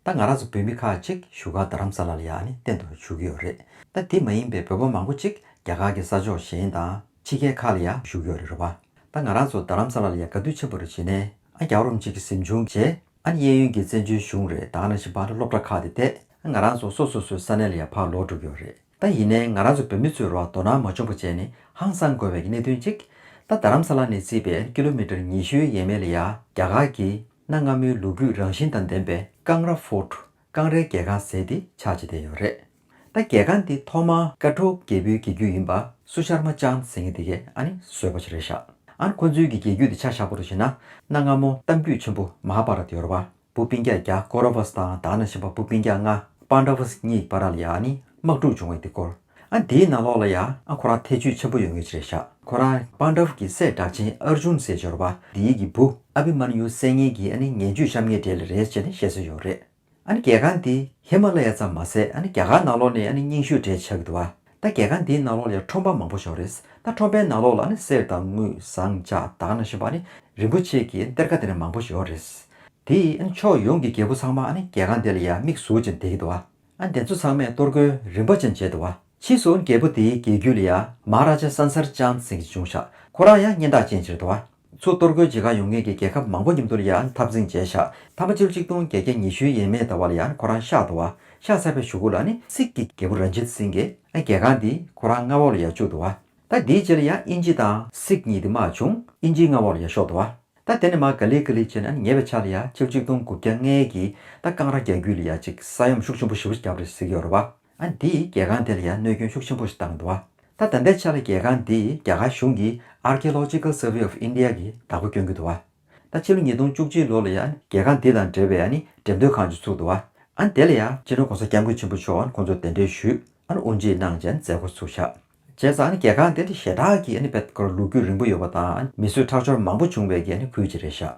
ད་ང་རང་ཚོ་བོད་མི་ཁག་གཅིག་བཞུགས་སྒར་རྡ་རམ་ས་ལ་ལ་ཡང་ནི་གཏན་དུ་བཞུགས་ཀྱི་ཡོད་རེད། ད་དེ་མ་ཡིན་པའི་བོད་པ་མང་པོ་གཅིག་རྒྱ་གར་གྱི་ས་ཕྱོགས་གཞན་དང་ཕྱི་རྒྱལ་ཁག་ལ་ཡང་བཞུགས་ཀྱི་ཡོད་རེད་རེད་བ། ད་ང་རང་ཚོ་རྡ་རམ་ས་ལ་ལ་ཡང་དགའ་དུས་ཆེན་པོ་རེ་བྱེད་ནས་ཨ་རྒྱ་རོམ་གཅིག་གི་གཟིམ་ཆུང་བྱས། ཨ་ནི་གཡས་གཡོན་གྱི་བཙན་བྱོལ་གཞུང་རེད་ད་ཨ་ན་ཞིང་བར་ལ་སློབ་གྲྭ་ཁག་དེ་བསྡད། ཨ་ང་རང་ཚོ་སོ་སོ་སོའི་ས་གནས་ལ་ཡང་ཕར་ལོག་འགྲོ་གི་ཡོད་རེད། ད་ཡིན་ནའི་ང་རང་ཚོ་བོད་མི་ཚོའི་རོགས་དོ་སྣང་མ་བྱུང་པ་བཅས་ནི་ཧང་སང་དགོས་པའི་གནད་དོན་གཅིག། ད་རྡ་རམ་ས་ལ་ནས་བརྩིས་པའི་ཨ་ནི་ཀི་ལོ་མི་ཏར་ཉི་ཤུའི་ཡས་མས་ལ་ཡང་རྒྱ་གར་གྱི་གནའ་སྔ་མོའི་ལོ་རྒྱུས་རང་བཞིན་དང་ལྡན་པའི་ཀང་ར Fort ཀང་རའི་རྒྱལ་ཁང་ཟེར་ཏེ་ཆགས་ཅི་བསྡད་ཡོད་རེད། ད་རྒྱལ་ཁང་འདི་ཐོག་མ། ཀ་ཀྲོའུ་རྒྱལ་པོའི་རྒྱལ་རྒྱུད་ཡིན་པ་སུ་ཤར་མ་ཅང་ཟེར་ངེས་དེ་གས་ཨ་ནི་བཟོས་པ་ཅི་རེད་ཤག་ཨ་ཁོ་ཚོའི་གི་རྒྱལ་རྒྱུད་དེ་ཆ་ཤག་པོ་རུ་བྱེད་ན་གནའ་སྔ་མོ་གཏམ་རྒྱུད་ཆེན་པོ་མ་ཧ་བྷ་ར་ཏི་ཡོར་བ་བུ་སྤིན་རྒྱ་རྒྱ་ཀོ་རོ་བྷ་སི་དང་དག་ན་བྱིན་པ་བུ་སྤིན་རྒྱ་ང་པཱན་དྲ་བྷ་སི་གཉིས་པ་ར་ལ་ཡ་ཨ་ནི་དམག་འཁྲུག་བྱུང་བའི་དེ་སྐོར། ཨ་དེའི་ནང་ལོགས་ལ་ཡང་ཨ་ཁོ་རང་ཐེ་ཇུས་ཆེན་པོ་ཡོད་ངེས་ཅི་རེད་བཞག་ཁོ་རང་པཱན་དཱ་བྷ་གི་སྲས་གྲགས་ཆེན་ཨར་ཇུན་ཟེར་འབྱོར་པ་དེའི་གི་བུ་ཨ་བྷི་མཱན་ཡུའི་སྲས་ངན་གྱིས་ཨ་ནི་ངན་ཇུས་བཤམས་ངེས་འབྲེལ་ལ་རེད་ཅེས་ནི་བཤད་སྲོལ་ཡོད་རེད། ཨ་ནི་གལ་འགངས་འདི་ཧི་མ་ལ་ཡ་ཙམ་མ་ཟད་ཨ་ནི་རྒྱ་གར་ནང་ལོགས་ནས་ཨ་ནི་རྙིང་ཤོས་གྲས་ཆགས་གི་འདུག་ཨ་ད་གལ་འགངས་འདིའི་ནང་ལོགས་ལ་ཡང་ཁྲོམ་པ་མང་པོ་བཞག་རེད་ད་ཁྲོམ་པའི་ནང་ལོགས་ལ་ཨ་ནི་གསེར་དང་དངུལ་ཟངས་ལྕགས་དག་གནང་བཞིན་པ་ཨ་ནི་རིན་པོ་ཆེ་གི་གཏེར་ཁ་དེ་ནས་མང་པོ་ཞིག་ཡོད་རེད། དེ་ཡིས་ཨ་ནི་ཕྱོགས་ཡོངས་ཀྱི་རྒྱལ་པོ་ཚང་མ་ཨ་ནི་གལ་འགངས་འདི་ལ་ཡང་མིག་ཟུར་ཅན་བསྡད་ཀྱི་འདུག་ཨ། ཨ་འདི་ཚོ་ཚང་མས་གཏོར་རྒོལ་རིམ་པ་ཅན་བྱས་འདུག་བ། ཕྱིས་སུ་རྒྱལ་པོ་འདིའི་རྒྱལ་རྒྱུད་ལ་ཡ་མ་ར་ཇ་སཱན་སར་ཅང་ཙེ་གི་ཅུང་ཤ་ཁོ་རང་ཡང་སྙན་གྲགས་ཅན་བྱེད་འདུག་བ། ཚུར་གཏོར་རྒོལ་བྱེད་ག་ཡོང་མཁན་གྱི་རྒྱལ་ཁབ་མང་པོ་མཉམ་དུ་ལ་ཡ་འཐབ་འཛིང་བྱས་ཤ་ཐ་མ་ཅིའུ་ཅིག་ཏུང་བརྒྱད་བརྒྱ་ཉི་ཤུའི་ཡས་མས་ད་བ་ལ་ཡ་ཁོ་རང་ཤ་འདུག་བ། ཤ་ཚ་བའི་ཞུ་གུ་ལ་ནི་སིག་གི་རྒྱལ་པོ་རན་ཇིད་སིང་གིས་ཨ་རྒྱལ་ཁང་འདི་ཁོ་རང་མངའ་འོག་ལ་ཡ་བཅུག་འདུག་བ། ད་འདིའི་རྗེས་ལ་ཡ་དབྱིན་ཇི་དང་སིག་གཉིས་འདི་མ་བྱུང་དབྱིན་ཇིའི་མངའ་འོག་ལ་ཡ་ཤོག་འདུག་བ། ད་དེ་ནས་མ་ག་ལི་ག་ལི་བྱས་ནས་ཉེ་བའི་ཆ་ལ་ཡ་ཆིག་གཅིག་སྟོང་དགུ་བརྒྱ་ལྔའི་གི་ད་རྐང་ར་རྒྱག་རྒྱུ་ལ་ཡ་ཅིག་ས་ཡོམ་ཤུགས་ཆེན་པོ་ཞི་བོ་ཞིག་བརྒྱབ་རེད་ཟེར་གི་ཡོད་རེད་བ། ཨ་འདིས་རྒྱལ་ཁང་དེ་ལ་ཡ་གནོད་སྐྱོན་ཤུགས་ཆེན་པོ་ཞིག་བཏང་འདུག་བ། ད་དམ་པའི་ཆ་ལ་རྒྱལ་ཁང་འདིས་རྒྱ་གར་གཞུང་གི Archaeological Survey of India གི་བདག་པོ་གྱོན་གི་འདུག་བ། ད་ཕྱི་ལོ་ཉིས་སྟོང་བཅུ་གཅིག་ལོ་ལ་ཡ་རྒྱལ་ཁང་འདི་དང་འབྲེལ་བའི་ཨ་ནི་འགྲེམས་སྟོན་ཁང་ཅིག་ཚུགས་འདུག་བ། ཨ་དེ་ལ་ཡ་སྤྱི་ནོར་གོང་ས་སྐྱབས་མགོན་ཆེན་པོ་མཆོག་ཨ་ཁོང་ཚོ་གདན་འདྲེན་ཞུས་ཨ་དབུ་འབྱེད་གནང་རྗེས་མཛད་སྒོ་ཚུགས་ཤག་བྱས་ཙང་གལ་གང་དེ་འདྲ་ཞེ་དྲག་གིས་འབད་དགོས་རུང་ལུག་རྒྱུད་རིང་པོ་ཡོད་པ་དང་མི་གསོད་ཁྲག་སྦྱོར་མང་པོ་བྱུང་བས་ཀྱི་ཁུལ་གྱི་རེད་ཤག།